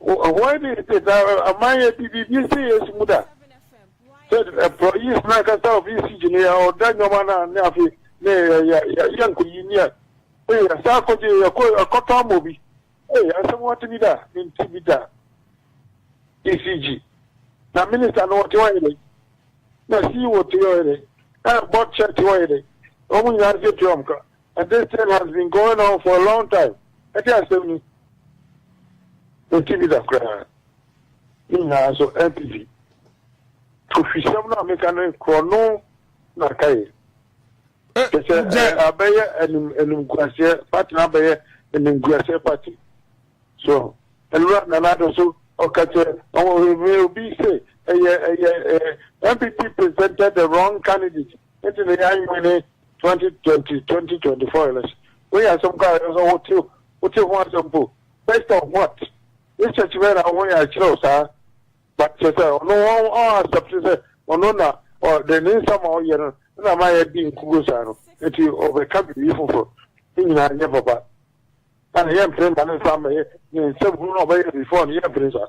Wɔn de de na amanyɛ bi bi bi se Yesu mu da. Sɛ ɛpɔ yi sena kasa obi si gyina ya ɔda nyɔma na ne afi ne ya ya ya ya nko yi ni a. Ee ya sa akɔ gye ya kɔ akɔ tɔ amɔ bi. Ee ya sɛ mo ɔte bi da ne nti bi da. ECG na minister no ɔte ɔyɛ dɛ na si wɔ te ɔyɛ dɛ na bɔ kyɛ te ɔyɛ dɛ wɔn nyinaa se te wɔn ka And this thing has been going on for a long time. Ɛde asɛm ni. Ɛti bi da koraa. Ne nyinaa nso NPP. Tohwisɛm no a meka no korɔ no na aka yɛ. Kyɛ sɛ abɛyɛ animguaseɛ pati na abɛyɛ animguaseɛ pati. So ɛnura nana ado so ɔka kyɛ ɔwɔ obi sɛ ɛyɛ ɛyɛ NPP presented the wrong candidate. Ɛti na yɛ anwene. Twenty twenty twenty twenty four election wei yɛ asɛm koraa ɛsɛ sɛ wote wote ho asɛm mpo based on what research bɛyɛ na wo ho yɛ akyerɛ wo saa but kyerɛ sɛ ɔno ɔn ɔn accept sɛ ɔno na ɔ de ne nsa ma ɔyɛ no na ma yɛ di nkugo saa no nti ɔbɛka biribi foforɔ ne nyinaa nyɛ papa na yɛ mpere ma ne nsa mɛyɛ ne nsɛm hunu na ɔbɛyɛ before no yɛ mpere saa.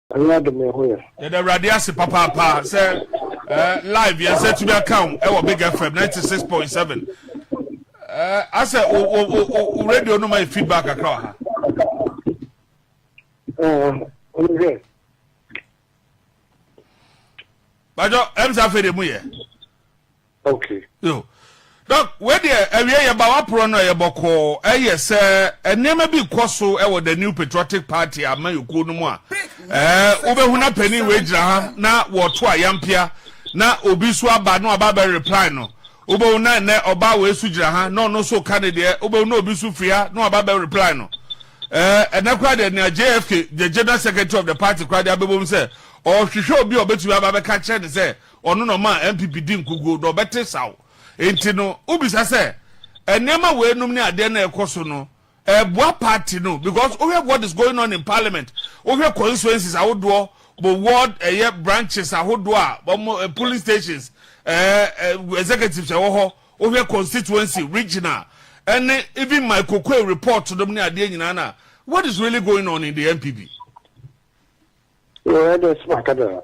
Ɔnyɛ ade me ho yɛ. Yɛda awurade ase papaapa sɛ eh, live yɛn sɛ tumi aka wo ɛwɔ big fm 96.7 eh, asɛ wo, wo, wo, wo, wo radio no ma yɛ feedback kakra wɔ ha ɔnohwɛ bajɔ ɛm sɛ afei de mu yɛ ok. Yo Dɔk wei deɛ awie yɛba waporɔ no ɛyɛ bɔkɔɔ ɛyɛ sɛ nneɛma bi rekɔ so ɛwɔ the new patriotic party amayɔkuo no mu a ɛɛ wobɛhu na panin wei gyina ha na wɔto ayampia na obi so aba na waba bɛ reply no wobɛhu na ɛnɛ ɔbaa wei so gyina ha na ɔno so ka ne deɛ wobɛhu na obi so firi ha na waba bɛ reply no ɛɛ ɛnɛ koraa deɛ nea JFK the general secretary of the party koraa deɛ abɛbom sɛ ɔhwehwɛ obi a ɔbɛtumi aba bɛka kyerɛ ne sɛ Ɔno na ɔmaa NPP di nkoguo, na ɔbɛte sa wo. Enti no, wobisa sɛ, nneɛma wei nom ne adeɛ no a ɛkɔ so no, ɛboa party no? Because wohwɛ what is going on in parliament, wohwɛ constituencies ahodoɔ, mo ward ɛyɛ branches ahodoɔ a, wɔn polling stations, ɛɛ, ɛɛ, executives ɛwɔ hɔ, wohwɛ constituency, regional, ɛne even my kokoe report nom ne adeɛ nyinaa no a, what is really going on in the NPP? Your Excellency, Makadara.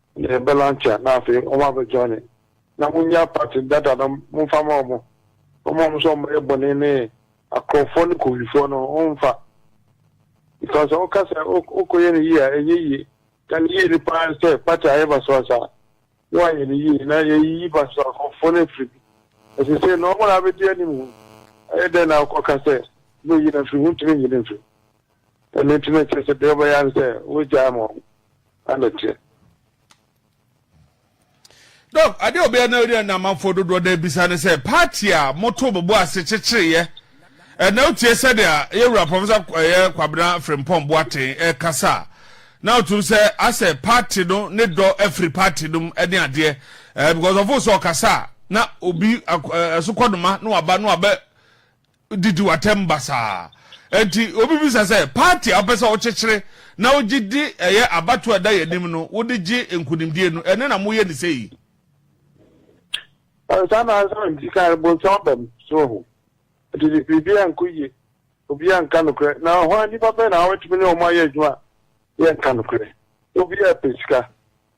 Yɛ bɛ lankyɛ na afei wɔn abɛ joine na mo nya party data no mo nfa ma wɔn mo ma wɔn sɛ wɔn bɛyɛ bɔne ne akorɔmfoɔ ne kowifoɔ no wɔn nfa because sɛ woka sɛ wokɔ yɛ ne yie a ɛnyɛ yie na ne yie ne paa sɛ party ayɛ basabasa na wayɛ ne yie na yɛyiyi basabasa akorɔmfoɔ no afiri bi ɛsɛ sɛ na wɔn na abɛdi anim ho ɛyɛ dɛn na wokɔka sɛ bɛyi no afiri ho ntumi nyi no mfiri Ɛno nti na ɛkyerɛ sɛ deɛ ɔbɛyɛ ara ne sɛ wogyaa ma ɔno ano teɛ. Dɔk, adeɛ a ɔbɛyɛ na ɔyɛ na amanfoɔ dodoɔ no abisa ne sɛ, party a motoo mo bo ase kyekyereeɛ ɛnnɛ wotie sɛdeɛ yɛn wura Professor ɛyɛ Kwabena Frimpong Boateng ɛrekasa a, na wotum sɛ asɛ party no ne dɔ afiri party no mu ne adeɛ ɛɛ because ɔfo sɛ ɔkasa a na obi ɛso kɔnoma na waba na wabɛ didi w'atɛm basaa. Enti wobebisa sɛ, Paati a wopɛ sɛ wokyekyere na wogye di ɛyɛ abatoɔ a ɛda yɛn anim no wode gye nkunimdie no, ɛno na moyɛ no sɛ yi? Saa na ansa na medi kan no bonsam aba mu, so wahu. Enti biribiara nkɔ yie, obiara nka nokorɛ. Na hwan nnipa bɛn na wɔbɛtumi ne wɔn ayɛ adwuma a yɛnka nokorɛ? Obiara pɛ sika.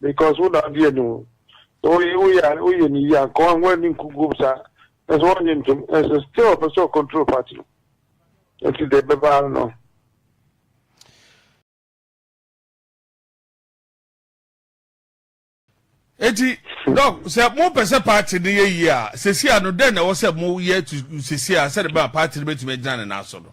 Because wo na ɔde ani hu. So woyɛ a woyɛ no yie anka ɔho ani nkukuom saa nanso wɔnnye ntom nanso still ɔpɛ sɛ ɔcontrol party no nti deɛ ɛbɛba ara no. Eti dɔk sɛ mo pɛ sɛ party no yɛ yie a sɛsi a no dɛn na ɛwɔ sɛ mo yɛ tu sɛsi a sɛde bɛma party no bɛtumi agyina ne nan so no.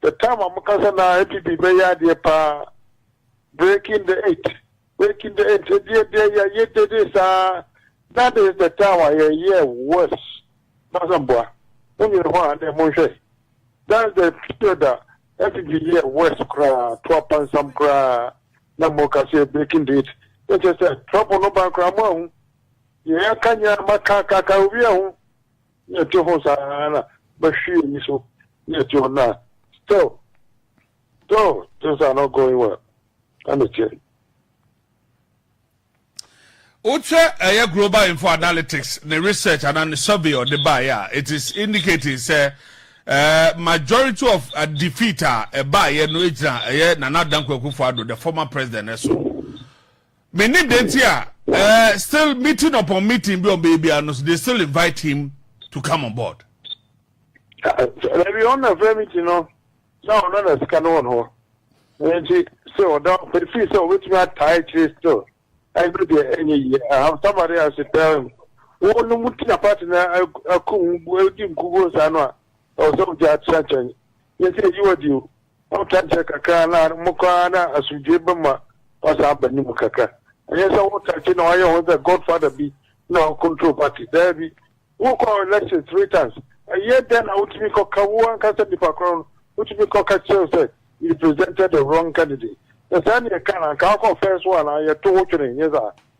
The time a moka sɛ na APB bɛyɛ adeɛ paa, breaking the eight, breaking the eight, ɛdeɛ deɛ yɛ yɛ dede saa, that is the time a yɛ yɛ worse, Basamboa, mo nyini hɔ a dɛ mo nhwɛ, that's the period a APB yɛ worse koraa, to apansam koraa, na mo ka sɛ breaking the eight, ne kyɛ sɛ trouble no ba koraa mo ahu, deɛ yɛ aka nyinaa ma ka ka ka obi ahu. Na ɛte ho saa ara na mɛhwe eyi so na ɛte hɔ na still still things are not going well na ne kyɛ. wokyɛ ɛyɛ global info analytics ne research ana ne survey ɔde baeɛ a it is indicating sɛ uh, majority of uh, defeat a ɛbaeɛ no gyina ɛyɛ nana adanko akufo ado the former president ɛso Mennim dɛn nti a eh, still meeting upon meeting bi a wɔbɛyɛ biara no, they still invite him to come on board. Dabi, ɔno na frɛ meeting no, na ɔno na sika no wɔ no hɔ. Nti sɛ ɔda ɔpɛ fii sɛ ɔbɛtumi ataa akyire still, ɛno deɛ ɛnyɛ yie. I have somebody I should tell him. Wɔn no mu ti na party na ako ho, ɛdi nkuguo saa no a, ɛwɔ sɛ wogya akyerɛ nkyɛn. Yɛn sɛ ɛyi wɔ di o. Wotwa kyɛ kakra na mokɔ ara na asomdwoe ba mu a, woasan aba ne mu kakra. Ɛnyɛ sɛ wo takye na woayɛ wo ho sɛ godfather bi na wo control party. Daabi. Wokɔ election three times. Ɛyɛ dɛn na wotumi kɔka wo ankasa nipa korɔn no, wotumi kɔka kyerɛ wo sɛ you presented the wrong candidate. Sɛ saa na yɛka no a, anka wokɔ first one a yɛto wo twene, nyɛ saa?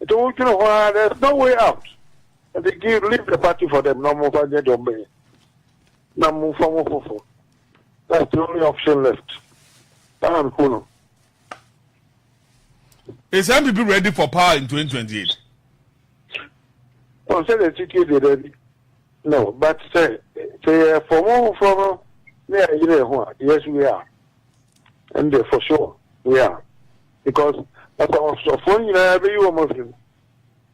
Nti wo dwene ho aa there's no way out nti give leave the party for them na ɔmo nfa nyɛ deɛ ɔmo bɛyɛ na mo nfa mo fofo that's the only option left saa na mehu no. Is MPP ready for power in 2028? Ɔn sɛ deɛ titie deɛ daabi no but sɛ sɛ yɛ fɔmo foforɔ no ne yɛ ayere ho a yes we are ɛn deɛ for sure we are. Because asafofo nyinaa bɛyi wɔn afiri mu.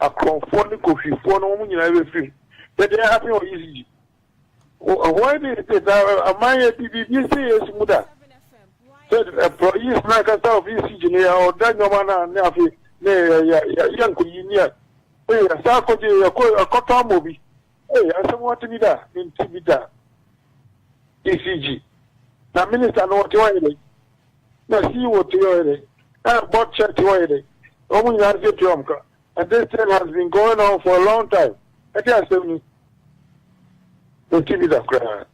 Akorɔmfoɔ ne kohwifoɔ no wɔn nyinaa bɛfiri mu. Dɛdɛn happen wɔ ECG? Why did it take? Aman yɛ di biribi si Yesu mu da. Sɛ employees na kasa of ECG no yɛ ɔda nneɛma na ne afe ne yɛ nkoyi ne yɛ. Ee yɛsa akɔgye yɛkɔ akɔtɔ amɔ bi. Ee asɛm wɔte bi da menti bi da. ECG na minister no wɔte wɔyɛ dɛn? na sii wɔ te ɔyɛ dɛ ɛ bɔ kyɛ te ɔyɛ dɛ ɔmo nyinaa se te ɔmo ka and this thing has been going on for a long time ɛde asɛm ni ne ti bi da koraa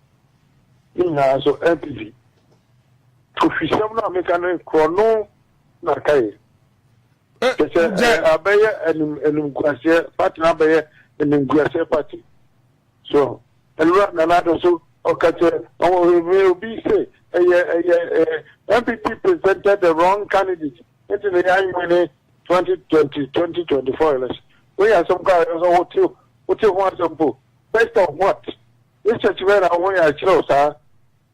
ne nyinaa so npp to fi sɛm no a meka no korɔ no na aka yɛ te sɛ abɛyɛ anim anim guaseɛ pati na abɛyɛ anim guaseɛ pati So Ewura Nana Addo so ɔka kyerɛ ɔwɔhwɛhwɛ obi se ɛyɛ ɛyɛ eh, NPP presented the wrong candidate nti na yɛn win 2020 2024 election. Wei yɛ asɛm kɔ a yɛ sɛ wote wote ho asɛm po. Based on what? Research bɛyɛ na ho yɛ akyerɛw saa.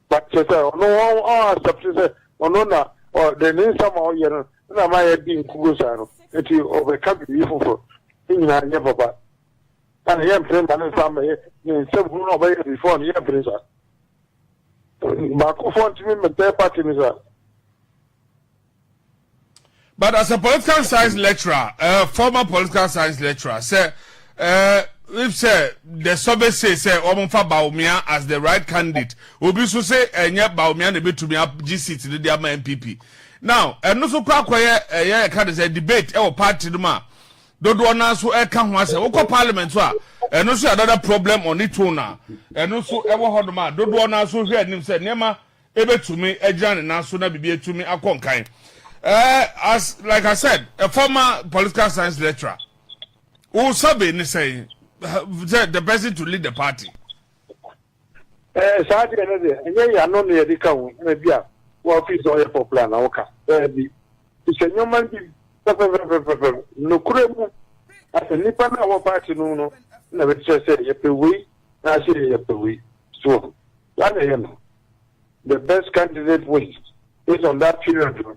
But kyerɛ sɛ ɔno wɔn ɔn accept sɛ ɔno na ɔde ne nsa ma ɔyɛ no na ama yɛ di nkugo saa no nti ɔbɛka biribi foforɔ ne nyinaa nyɛ papa. na ne yɛ mpere mma ne nsa mmɛyɛ ne nsam hunu na ɔbɛyɛ before ne yɛ mpere sa baako fɔ ntumi mmɛtɛ party ne sa. But as a political science lecturer, uh, former political science lecturer, say, uh, if say the survey say say Omonfa Baumia as the right candidate, Obi so say enye eh, Baumia ne betumi agye seat ne dia ma MPP. Now, ɛno so kɔ akɔyɛ ɛyɛ ɛka de sɛ debate ɛwɔ party no mu a dodoɔ no ara nso ɛka ho asɛ wokɔ parliament nso a ɛno nso yɛ another problem on its own a ɛno nso ɛwɔ hɔnom a dodoɔ no ara nso hwɛ anim sɛ nneɛma ɛbɛtumi agyina ne nan so na biribi atumi akɔ nkan ɛɛ as like i said a former political science lecturer wo survey ne sɛn sɛ the person to lead the party Ɛɛ saa deɛ no deɛ ɛnyɛ yɛ ano na yɛde ka ho ɛna bi a wɔafi sɛ ɔyɛ popular na woka daabi sɛ nneɛma no bi pɛpɛpɛpɛpɛ nokorɛ mu na sɛ nnipa no a wɔ party no no na bɛkyerɛ sɛ yɛpɛ wei na sɛ yɛpɛ wei so saa na ɛyɛ no the best candidate wins based on that period no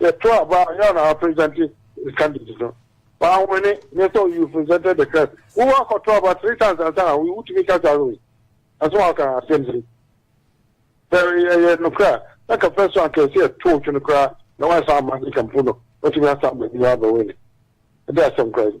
Yɛto aba a, yɛn na apresɛnte candidate no. Wanwene, nyɛ sɛ you presented the card. Wowɔ akɔto aba three times ansa na wotumi ka saa wei. Ɛso waka asɛm bi. Sɛ yɛyɛ nokorɛ a, na ka first one kɛse yɛto twene koraa na wansan amma ne kampo no, watumi asan baabi abɛwene. Ɛde asɛm koraa yi.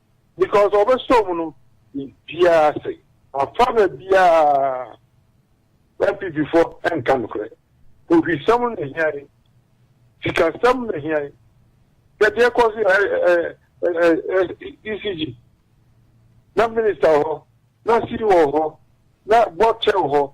Because ɔbɛsɔ mu no biribiara ase. Afa na biara NPP fo nka nokorɛ. Ohwisɛm na ehia yi. Sikasɛm na ehia yi. Hwɛ deɛ ɛkɔ so ECG. Na minister wɔ hɔ, na CEO wɔ hɔ, na board chair wɔ hɔ,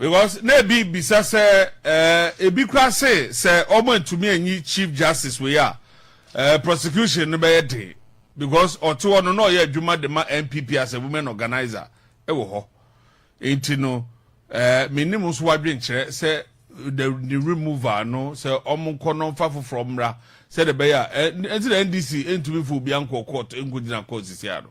Because na ebi bisa sɛ ɛɛ ebi koraa se sɛ wɔn antumi anyi chief justice wei a ɛɛ prosecution no bɛyɛ den because ɔte hɔ no na ɔyɛ adwuma de ma NPP as a women organiser wɔ hɔ nti no ɛɛ menim nso wadwenkyerɛ sɛ the the removal no sɛ wɔn nkɔ no nfa foforɔ mmra sɛdeɛ ɛbɛyɛ a ɛɛ nti na NDC ntumi fo obi ankɔ court nkogyina court sisi ano.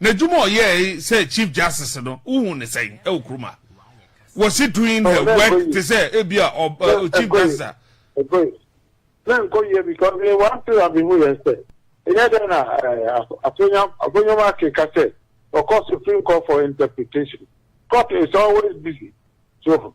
N'adwuma a ɔyɛe sɛ Chief Justice no, wuhu no sɛn wɔ kurom ha? Was he doing the work te sɛ ebia Chief Justice a? Ɛkɔe. Ná ɛnkɔ yiye because me one thing a mihu yɛ sɛ, ɛnyɛ dɛn na Afonyam Ackye ka sɛ ɔkɔ Supreme Court for interpretation. Court is always busy. So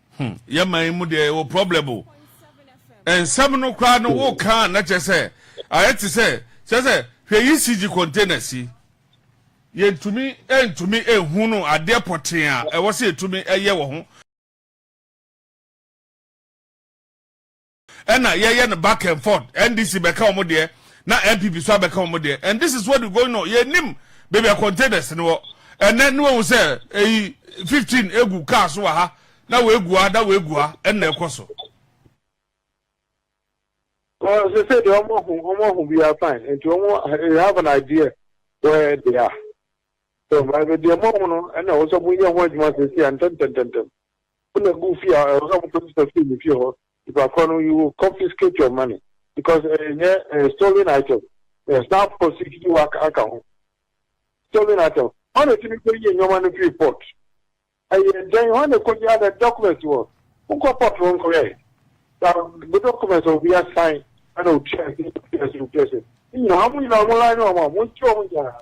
Hmm, yɛ man yi mu deɛ yɛwɔ problem o. Nsɛm no koraa no wo ka na kyɛ sɛ ayɛ te sɛ kyɛ sɛ hwɛ yi CG container si. Yɛntumi ntumi ehu no adeɛ pɔtee a ɛwɔ sɛ yɛtumi ɛyɛ wɔ ho. ɛna yɛyɛ no back and forth ndc bɛka wɔn deɛ na npp so abɛka wɔn deɛ and this is what we going on yɛnim baabi a containers no wɔ ɛnɛ ne wɔn sɛ eyi fifteen egu kaa so wɔ ha na wɔegu ha na wɔegu ha ɛna ɛkɔ so. Well, they say they almost almost we are fine, and you almost you have an idea where they are. So, but the amount, and also we are what you must say, and ten, ten, ten, ten. Wo na gu fie a ɛwɔ sɛ ɔmo kɔgye sɛ fii ne fie hɔ nipa korɔ no you will confiscate your money because ɛnyɛ ɛyɛ stolen item ɛyɛ snap proceed no wa aka ho stolen item hɔ na ɛtumi kɔ yie nneɛma no firi port ɛyɛ dɛn hɔ na ɛkɔ yie ada document wɔ wo kɔ port no nkɔ yɛ na bu document wɔ bi asan ɛna otua ɛsɛ otua ɛsɛ otua ɛsɛ nyina ɔmo nyina ɔmo line ɔmo a mo nti ɔmo nyinaa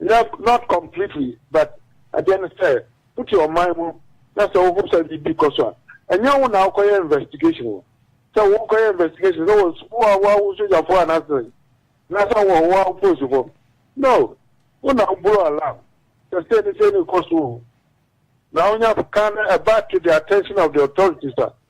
No, not completely, but adeɛ no sɛ wote ɔman mu na sɛ wohu sɛ biribi kɔ so a, ɛnyɛ wo na wokɔyɛ investigation o. Sɛ wokɔyɛ investigation sɛ wɔ wo a woa wo sogyafoɔ anaasɛ anaasɛ wɔ wo a polisifo. No, wo na wo blow alarm sɛ sei ne sei ne kɔ so o. Na wonya kan no ɛba to the attention of the authorities a.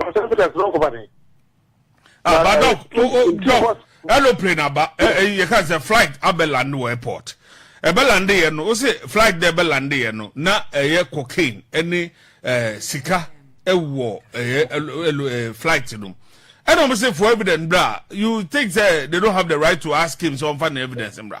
South Africa sɛ ɔnkɔba dɛn. Ah, but doc, eh, oh, oh, doc, aeroplane aba, eh, eh, you can say flight abe land wɔ airport. Ebe lande yɛ no, o se flight de ebe lande yɛ no, na ɛyɛ cocaine ɛne eh, sika ɛwɔ ɛyɛ ɛlo eh, flight no. Ɛna wɔn se for evidence bra, you think say they don't have the right to ask him so ɔnfa ne evidence bra.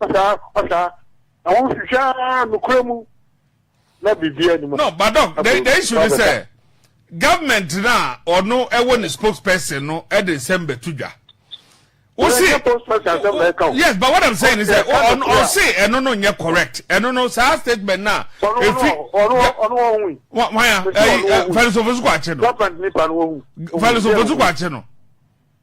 Ɔsaa, ɔsaa. Na wɔn hwehwɛ ara nukura mu na biribi anim. No, but doc, the, the issue is say eh, government na ɔno ɛwɔ ne spokesperson no ɛde eh, nsɛm bɛtu dwa. Wosi, yes, but what I'm saying is that ɔno ɔsi ɛno no nyɛ correct ɛno no saa statement na efi wanya ɛyi fɛnusofo so kɔ akyi no fɛnusofo so kɔ akyi no.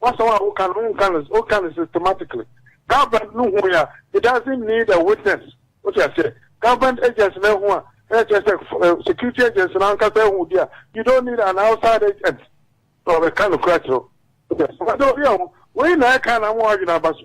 W'asɛm a woka no, wonka no, woka no systematically. Government no hui a, it doesn't need a witness. Wote aseɛ? Government agency no ahu a, ɛna kyerɛ sɛ security agency no ankasa ahu deɛ a, you don't need an outside agent na wabɛka nokorɛ akyerɛ wo. Wote aseɛ? Wɔde obi a, wei na ɛka na ama w'adwene aba so.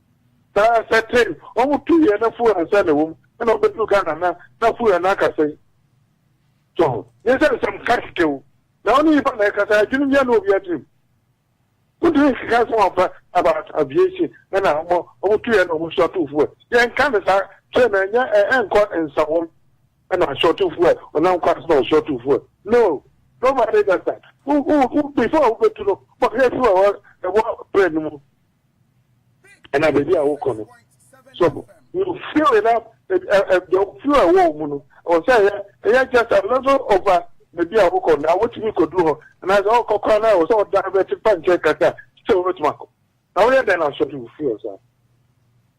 Saa sɛ tee wɔn tu yɛ na fuha nsa na wɔm ɛna ɔbɛduru Ghana na na fuha na aka sɛn so ho nyɛ sɛ nsɛm ka kɛkɛ o na ɔne nipa na ɛkasa adwene bia na obia tirim wontumi nkeka nsɛm ampa about aviation ɛna ɔmo ɔmo tu yɛ na ɔmo so ato fuha yɛ nka ne saa kyerɛ na ɛnyɛ ɛnkɔ nsa wɔm ɛna ahyɛ ɔto fuha ɔnam kwan so na ɔhyɛ ɔto fuha no nobody does that before wobɛtu no bɔhwɛ fuha ɛwɔ brɛ no mu ɛna baabi a wokɔ no so you feel it up ɛdɔ feel ɛwɔ wɔn mu no ɛwɔ sɛ ɛyɛ ɛyɛ just a little over baabi a wokɔ na wotumi kɔduru hɔ anaasɛ ɔkɔ kora no a ɛwɔ sɛ ɔda bɛte fa nkyɛn kakra sɛ wobɛtumi akɔ na woyɛ dɛn na asɔre you feel saa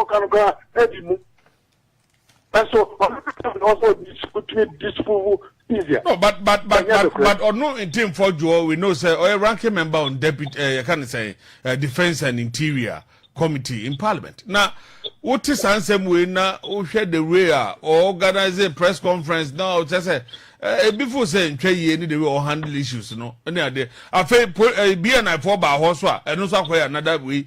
Ɔka no koraa adi mu. Nanso ɔno kasa na ɔsɛ ɔtumi disprove easier. No, but but but but but ɔno ntin fɔ jɔ we know sɛ ɔyɛ ranking member on deputy ɛɛ yɛ ka ne sɛ ɛɛ defence and interior committee in parliament na wote saa nsɛm wei na wohwɛ the way a organize press conference na ɔkyɛ sɛ ebi fo sɛ ntwa yie ne the way ɔ handle issues no ne adeɛ afei po ɛɛ bnfo baa hɔ so a ɛno nso akɔyɛ another way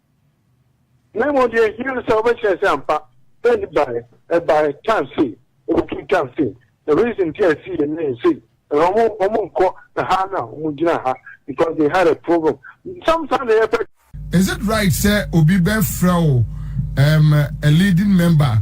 Na mmom deɛ ɛhia no sɛ wobɛkyerɛ sɛ ampa sɛ ne baeɛ, ɛbaeɛ, time sei, ɛbɛtumi time sei, the reason nti a ɛsii yɛ ne sei, ɛna wɔn wɔn nkɔ ɛha na wɔn gyina ha because they had a problem. Some saa na yɛpɛ. Is it right sɛ obi bɛfrɛ wo um, a leading member?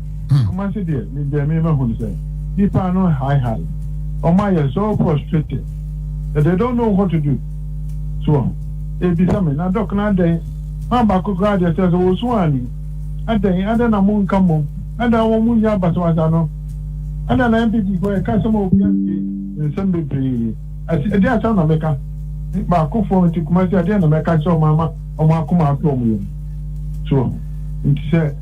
Kumasi deɛ me deɛ me mahu no sɛ nipa no high high ɔmo ayɛ so frustrated that they don't know what to do so wɔ ɛbisa me na doc no adɛn ma baako koraa deɛ sɛ sɛ ɔsu a ne adɛn adɛn na mo nka mmom adɛn wɔ mo nyɛ abasabasa no adɛn na NPP foɔ yɛ ka asɛm a obi antie nsɛm bebree ɛsi ɛdeɛ asɛm na meka me baako foɔ nti Kumasi adeɛ na mɛka sɛ ɔmo ama ɔmo akoma ato ɔmo yɛm so wɔ nti sɛ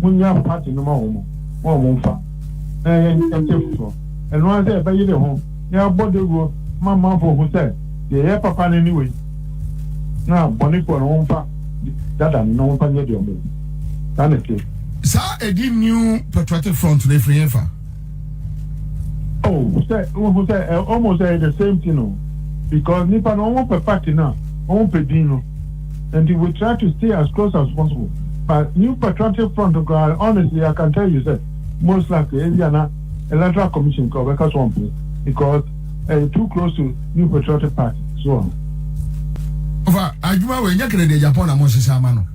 Munya party no ma wɔn na wɔn mfa na yɛ nkyɛ foforɔ. Ɛno ara sɛ yɛbɛyere ho na yɛabɔ dawuro ma amanfoɔ hu sɛ deɛ ɛyɛ papa no ne wei na bɔnefoɔ no wɔn mfa dada no na wɔn mfa nyɛ deɛ wɔn pɛ. Saa na ɛteɛ. Saa ɛdin New Patriotic Front no ɛfiri hefa? Oh, sɛ wohu sɛ ɛ ɔmo sɛ ɛyɛ the same thing o because nipa no ɔmo pɛ party na ɔmo pɛ din no nti we try to stay as close as possible but new patriotic front koraa honestly I can tell you sɛ most likely ebi ana electoral commission koraa ɔbɛka so ɔmpɛ because ɛyɛ too close to new patriotic party so ɔho. Ɔfa adwuma wei nyɛ kɛdɛ deɛ Japan na mo hyehyɛ ama no.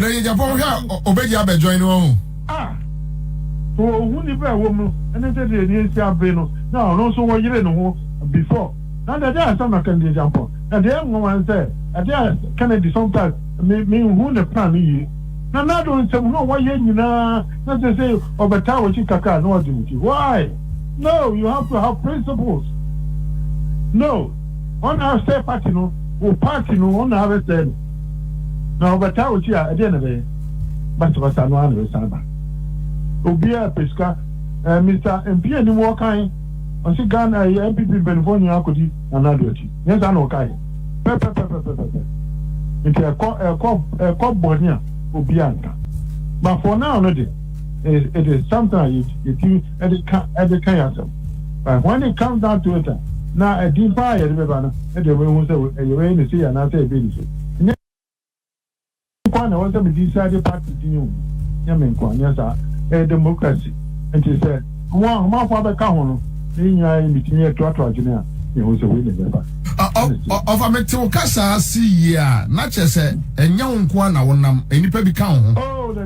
Na yɛ Japan hwɛ a obegye abɛ join wɔn ho. A. So ohu nipa ɛwɔ mu no ne sɛdeɛ ɛdeɛ nsi abe no na ɔno nso wɔ yere ne ho before na deɛ ɛdeɛ asɛm na kɛn deɛ Japan na deɛ ɛnwanwa ne sɛ ɛdeɛ Kennedy sometimes me me nhu ne plan no yie na nado nsɛm na ɔwɔ yɛ nyinaa na sɛ sɛ ɔbɛ taa wɔ akyi kakra na ɔde ne ti why no you have to have principles no ɔna sɛ party no wo party no ɔna abɛ sɛ no. Na ɔbɛtaa wo ti a, ɛdeɛn na ɛbɛyɛ? Basabasa no ara na ɛbɛsan aba. Obiara pɛ sika. Ɛɛ Mister Mpianim wɔkan, ɔse Ghana ɛyɛ NPP mpaninfoɔ nyinaa akɔdi Nana Addo akyi. Nyɛ saa na wɔkaeɛ? Pɛpɛpɛpɛpɛpɛ. Nti ɛkɔ ɛkɔ ɛkɔ bɔne a, obiara nka. But for now no deɛ, it is something a yɛtumi de ka de ka yɛn asɛm. But when it comes down to it a, na ɛdin paa a yɛde bɛba no deɛ mehu sɛ yɛbɛyɛ no sei anaasɛ yɛbɛyɛ no sei. Nyɛ nko ara na ɛwɔ sɛ me decide party din o, nyɛ me nko ara, nyɛ saa. Ɛyɛ democracy. Nti sɛ wɔn ahomanfoɔ abɛka ho no, na yɛn nyinaa yɛ meeting na yɛtoatoa adwene a, yɛhu sɛ wei na ɛbɛba. Ɔfa mete wo kasa ase yie a, na kyerɛ sɛ ɛnyɛ wo nko ara na wonam, nnipa bi ka wo ho.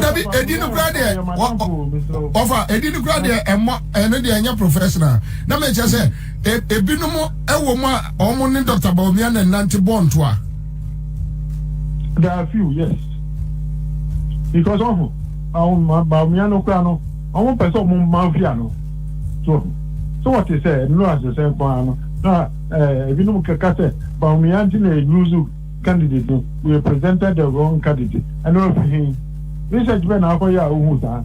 dabi edi no kura deɛ ɔfa edi no kura deɛ ɛmɔ ɛno deɛ ɛnyɛ professional na mɛ kyɛ sɛ ebinom ɛwɔ mu a wɔn ne dɔkta baomia na nante bɔ ntoa. there are few yes because ɔho baomia no kura no wɔn pɛ sɛ wɔn mma ofia no. So wahu? So wɔte sɛ nnuru a ɛsesɛn kɔn ara no? Na eh, ebinom keka sɛ Bawumia nti na ennuru so candidate no, we presented the wrong candidate. Ɛno efi he? Research bɛn na akɔyɛ a wuhu saa?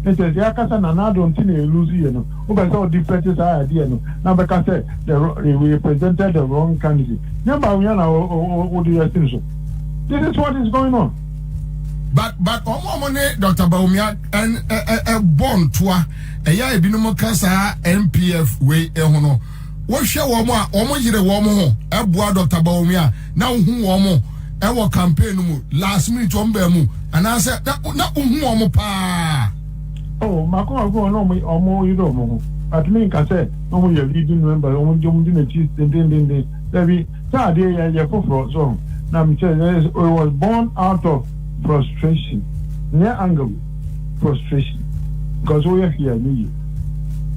Nkyɛ sɛ yɛaka sɛ Nana Addo nti na ennuru so yie no, wopɛ sɛ ɔdeflɛte saa idea no na bɛka sɛ the wro- eh, we presented the wrong candidate. Nyɛ Bawumia na wo- wo- wo- wode yɛ sin so. This is what is going on. But but ɔmo a ɔmo ne Dɔkta Bawumia ɛbɔ ntoa ɛyɛ a ebinom ka saa npf wei ho no wohwɛ wɔn a wɔn yere wɔn ho ɛboa dɔkta baomi a na wohu wɔn ɛwɔ campaign no mu last minute wɔn baa mu anaasɛ na wohu wɔn paa. o mako mako wɔn wɔn wɔn yere wɔn ho atumi nka sɛ wɔn yɛ leading member wɔn di wɔn di n'akyi dendendenden dabi. Saa adeɛ yɛ yɛ foforɔ so ɔho na me sɛ yɛ it was born out of frustration nyɛ anger o frustration because wo yɛ hwee a ɛnyɛ yie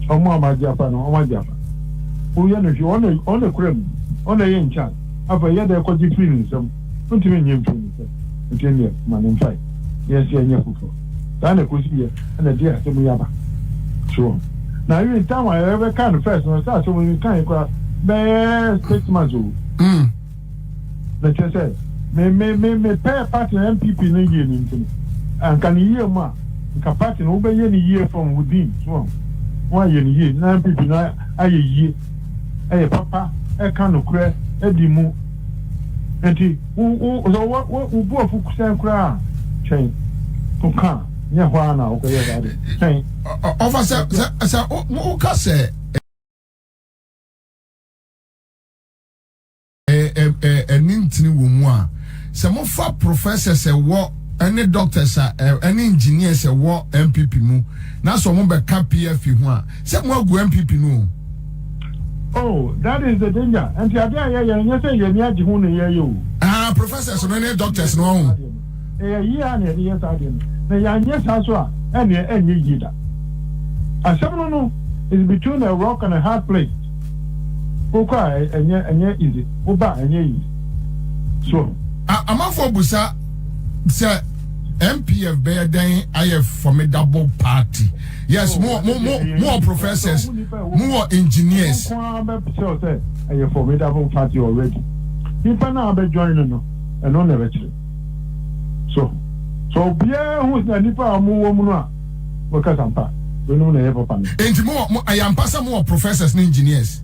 ɔmo a ɔmo agye afa no ɔmo agye afa wo yɛ no hwee ɔna ɔna kura mu ɔna ɛyɛ in charge afei yɛ dɛ kɔgye firi ne nsam ntumi nyɛ mfiri ne nsam nti ɛneɛ ma ne mfae yɛ sɛ ɛnyɛ foforɔ. Saa na ɛkɔsi yɛ na ɛde asɛm yi aba soɔ. Na even time a yɛbɛka no first no sɛ asɛm yi kae koraa bɛyɛ six months o. Mm. Na kyerɛ sɛ me me me me pɛ party na NPP no yie no nti no anka ne yie mu a nka party no wobɛyɛ ne yie from within so a woayɛ ne yie na NPP no ayɛ yie ɛyɛ papa ɛka nokorɛ ɛdi mu Enti wo wo sɛ wo wo wo bu afu sɛn koraa a, twɛn. Ɔka a, nyɛ hɔ ara na wokɔyɛ saa de. Twɛn. Ɔfa sɛ sɛ sɛ woka sɛ. ɛne ntini wɔ mu a sɛ mofa professors ɛwɔ ɛne doctors a ɛne engineers ɛwɔ npp mu na sɛ wɔn bɛka pfp ho a Sɛ mo agu NPP no o. Oh that is the danger nti adeɛ a yɛyɛ no nyɛ sɛ yɛni agye ho na yɛyɛ o. Ah professors no ne doctors no ɔho. Ɛyɛ yie a na yɛde yɛ saa adeɛ no na yɛanyɛ saa so a ɛneɛ ɛnyɛ yie da. Asɛm no no is between a rock and a hard place. Wokɔ a ɛnyɛ ɛnyɛ easy woba a ɛnyɛ easy so ɔho. Amanfoɔ busa sɛ MPF bɛyɛ dɛn ayɛ formidable party. Yes, oh, more, more, more, more professors, more engineers. A formidable party already. Nipa na abɛ join no no, ɛno na ɛbɛkyerɛ. So, so obiara hu sɛ nipa a wɔn wɔ mu no a wɔkasa mpa, binom na ɛyɛ papa no. Nti mo, ɛyɛ mpa sɛ mo wɔ professors ne engineers.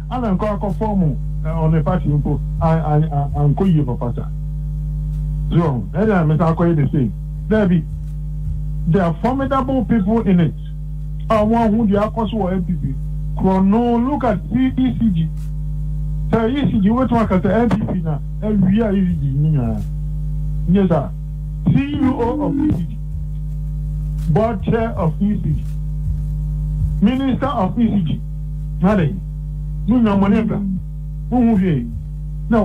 Ana nkɔ akɔ form ɔne party mpo ankɔ yie papasa so wɔho ɛna mesan akɔyɛ the same daabi there are formidable people in it a wɔn ahu deɛ akɔso wɔ NPP korɔno look at ECG sɛ ECG wobɛtumi aka sɛ NPP na awie a ECG no nyinaa nyɛ saa CEO of ECG board chair of ECG minister of ECG Yare, munya mo ani da, munhu hwee, na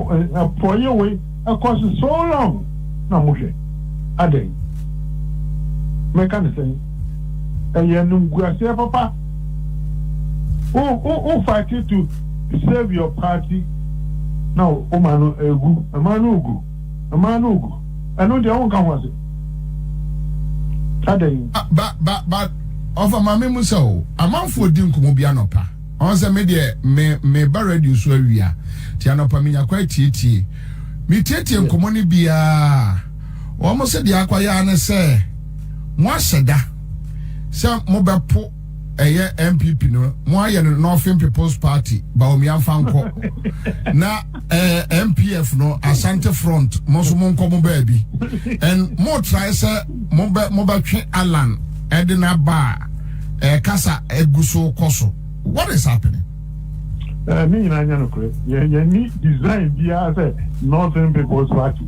porɔeɛ wei ɛkɔ so so long na mohwɛ. Adɛn? Mɛka no sɛn? Ɛyɛ animguaseɛ papa. Wo, wo, wo fight to save your party na woma no ɛgu, ɛma no regu. Mmaa no gu. Ɛno deɛ wonka ho asɛm. Adɛn? Ba ba ba ɔfa maame mu sɛ o amanfoɔ di nkɔmɔ bi anɔpa ɔn sɛ me deɛ me me ba radio so awia ti anɔpa me nya kwa etietie me tietie nkɔmɔ ne biaa wɔn se deɛ akwa yaa ne sɛ mo ahyɛ da sɛ mo bɛ po ɛyɛ npp no mo ayɛ no northern people's party baomia mfa nkɔ na ɛɛ eh, npf no asante front mo nso mo nkɔ mo baabi and mo trae sɛ mo bɛ mo bɛtwe alan ɛde n'aba a ɛɛ eh, kasa egu so kɔ so what is happening. ɛɛ ne nyinaa nyɛ nokorɛ yɛn yɛn ni design biara sɛ northern people's party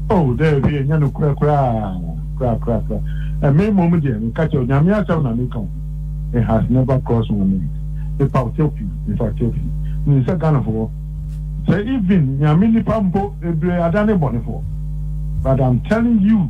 oh dɛbi ɛnyɛ nokorɛ koraa koraa koraa koraa ɛmɛ mmom deɛ nka kyɛw nyame asɛm na ne kan it has never crossed my mind nipa ɔkyɛw pii nipa ɔkyɛw pii ne nsɛ ghanafoɔ sɛ even nyame nipa mpo bebree adane bɔnefoɔ but i'm telling you.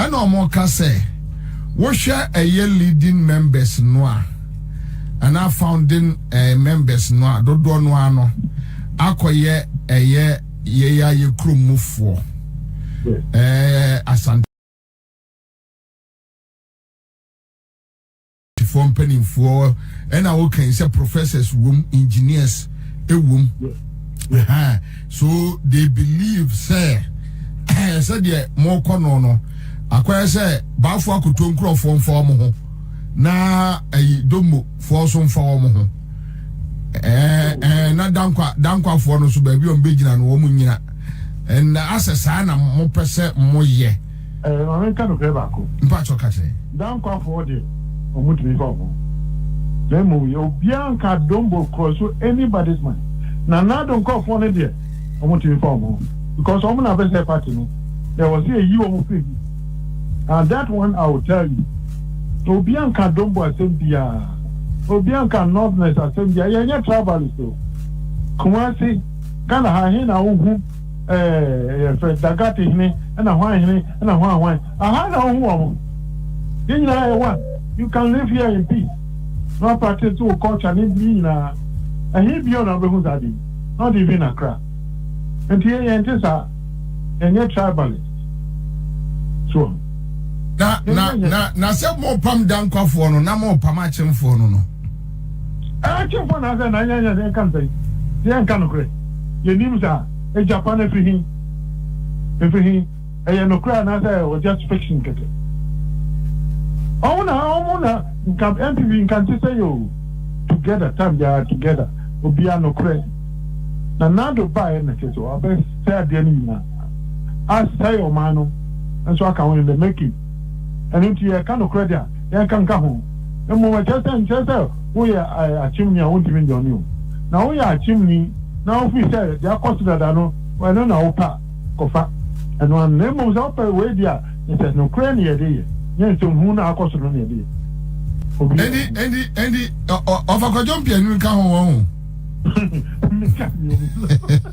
Ɛna ɔmo ka sɛ wohwɛ ɛyɛ leading members no a anaa founding ɛɛ members no a dodoɔ no ara no akɔyɛ ɛyɛ yɛyɛ a yɛ kurom mu foɔ ɛɛ asante. Apolisifoɔ mpanimfoɔ ɛna wokan sɛ professors wom, engineers ɛwom. Yeah. So they believe sɛ ɛyɛ sɛ deɛ mokɔ no no akɔyɛ sɛ baafo akoto nkurɔfoɔ mfa wɔn ho na ɛyi domofoɔ nso mfa wɔn ho ɛɛ ɛɛ na dankwa dankwafoɔ no nso baabi a wɔn bɛgyina no wɔn nyina ɛna asɛ saa na mopɛ sɛ moyɛ. Ɛɛ, ma menka nokorɛ baako. Mpatsɔ ka kyerɛ. Dankwafoɔ deɛ, wɔntumi mfa wɔn ho. Na mmom yɛ obiara nka Dombo korɔ so anybody's mind. Na Nado nkorɔfoɔ no deɛ, wɔntumi mfa wɔn ho. Because wɔn na bɛsɛɛ party no. Na ɛwɔ sɛ yɛyi wɔn firi mu. And that one I will tell you. Obiara nka Dombo asɛm biara. Obiara nka Northerners asɛm biara. Yɛnyɛ tribalist o. Kumasi, Ghana ha he na wohu. Ɛɛ, yɛfrɛ Da Gat hene, ɛna Hwan hene, ɛna Hwan hwan. Aha na wohu wɔn. Yɛn nyinaa yɛ one. You can live here in peace na wa practice wo culture ne ne nyinaa. Ɛhe bio na wobɛhu saa ade yi? Not even in Accra. Nti yɛn yɛnte saa. Yɛnyɛ tribalist. So ɔho. Na, na, na, na sɛ morepam Dankwafoɔ no, na morepam Akyemfoɔ no no. Akyemfo anaasɛ nanyanya de nka nsɛn sɛ yɛnka nokorɛ. Yɛnnim saa. Egya pa no firi he? Efiri he? Ɛyɛ nokorɛ anaasɛ ɛyɛ just fiction kɛkɛ? Ɔmo na ɔmo na nka NTV nka nte sɛi oo. Together time biara together obiara nokorɛ. Nanado baeɛ na kyerɛ sɛ ɔbɛsɛe adeɛ no nyinaa. Asɛe ɔman no nso aka ho in the making. Ɛno nti, yɛka nokorɛ de a, yɛnka nka ho. Mmom ɛkyerɛ sɛ, nkyerɛ sɛ woyɛ akyemni a wontumi nyɛ ɔne o, na woyɛ akyemni na wofiri sɛ deɛ akɔ so dada no, ɛno na wopɛ a, kɔfa ɛno ara no. Na mmom sɛ wopɛ wei deɛ a, na sɛ nokorɛ na yɛde yɛ, nyɛ nsɛm hunu no a akɔ so no na yɛde yɛ. Obi a. Ɛnti, ɛnti, ɛnti, ɔfa kwadwom piani no ka ho, wɔn ho. Meka bio, me nso.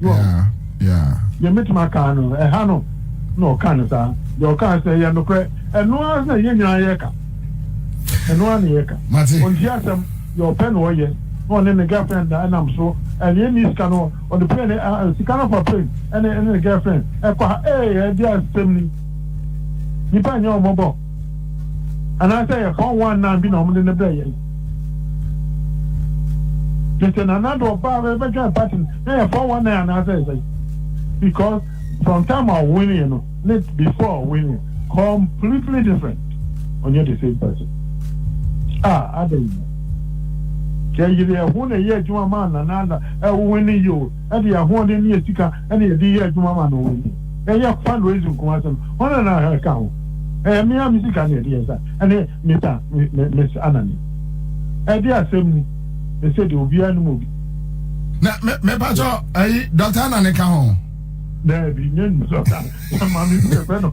Yeah, yeah. Deɛ mɛtumi aka no, ɛha no na ɔka no saa. Deɛ ɔka sɛ ɛyɛ nokorɛ. Ɛno ara na yɛn nyinaa yɛka. Ɛno ara na yɛka. Mate. Ɔnti asɛm, deɛ ɔpɛ na ɔyɛ. Na ɔne ne girlfriend na ɛnam so. Ɛne ɛni sika no, ɔde plane, uh, sika no fa plane, ɛne, ɛne ne girlfriend. Ɛkɔ ha, ee, ɛde asɛm ni. Nipa nyɛ ɔmɔbɔ. anaasɛ ɛyɛ four one nine bi na wɔn de ne brɛ yɛn tete nana de ɔbaa bɛ bɛtwɛn party no na yɛ four one nine anaasɛ ɛsɛ because from time a ɔwin yɛ no ne before ɔwin yɛ completely different ɔnyɛ the same person ah ada yi yɛyere ɛho na ɛyɛ adwuma maa nana ada ɛwowin ne yio ɛde ahoɔden ne yɛ sika. na yɛde yɛ adwuma ma no wɔ yi. Ɛnyɛ fundraising nko asɛm, hwan na na ɛka ho? Ɛyɛ me ara me sika na yɛde yɛ saa, ɛne Mita, Miss Anani. Ɛde asɛm ni, ɛsɛ deɛ obiara nim obi. Na mepatɔ ɛyi Dr. Anani ka ho? Daabi, nyɛ Dr. Anani, ɛma me bi ɛfɛ no.